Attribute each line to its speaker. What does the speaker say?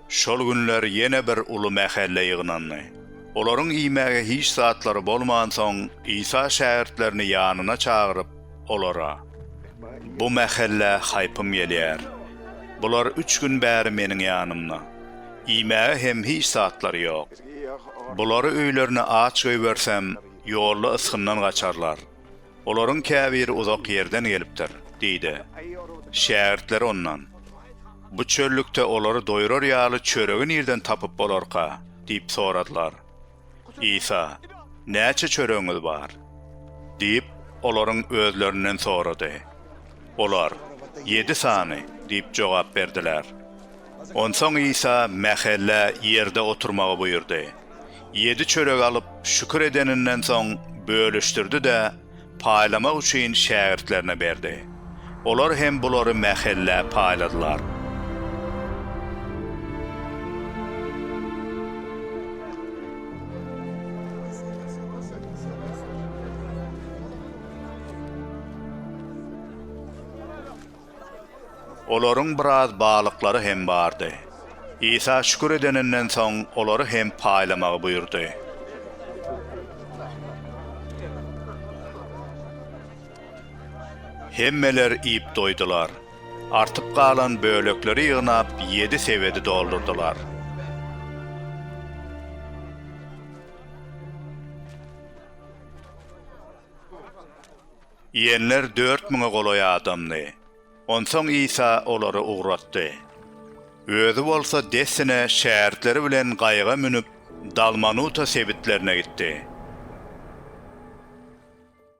Speaker 1: Şol günler ýene bir uly mähelle ýygnandy. Olaryň iýmäge hiç zatlary bolmansoň, Isa şägirtlerini ýanyna çagyryp, olara, Bu mähelle haýpym gelýär. Bular üç gün bäri Meniň ýanymda. Iýmäge hem hiç zatlary ýok. Bulary öýlerine aç goýbersem, ýolda ysgyndan gaçarlar. Olaryň käbiri uzak ýerden gelipdir, diýdi. Şägirtleri ondan, Bu çöllükde olary doýrar ýaly çöregi nirden tapyp bolarka? diýip soradylar. Isa, Näçe çöregiňiz bar? diýip, olaryň özlerinden sorady. Olar, Ýedi sany diýip jogap berdiler. Onsoň Isa mähellä ýerde oturmagy buýurdy. Ýedi çörek alyp, şükür edeninden soň, bölüşdirdi-de, paýlamak üçin şägirtlerine berdi. Olar hem bulary mähellä paýladylar. Olaryň biraz balyklary hem bardy. Isa şükür edeninden soň, olary hem paýlamagy buýurdy. Hemmeler iýip doýdular. Artyp galan bölekleri ýygnap, ýedi sebedi doldurdylar. Iýenler dört müňe golaý adamdy. Onsoň Isa olary ugratdy. Özi bolsa dessine şägirtleri bilen gaýyga münüp, Dalmanuta sebitlerine gitdi.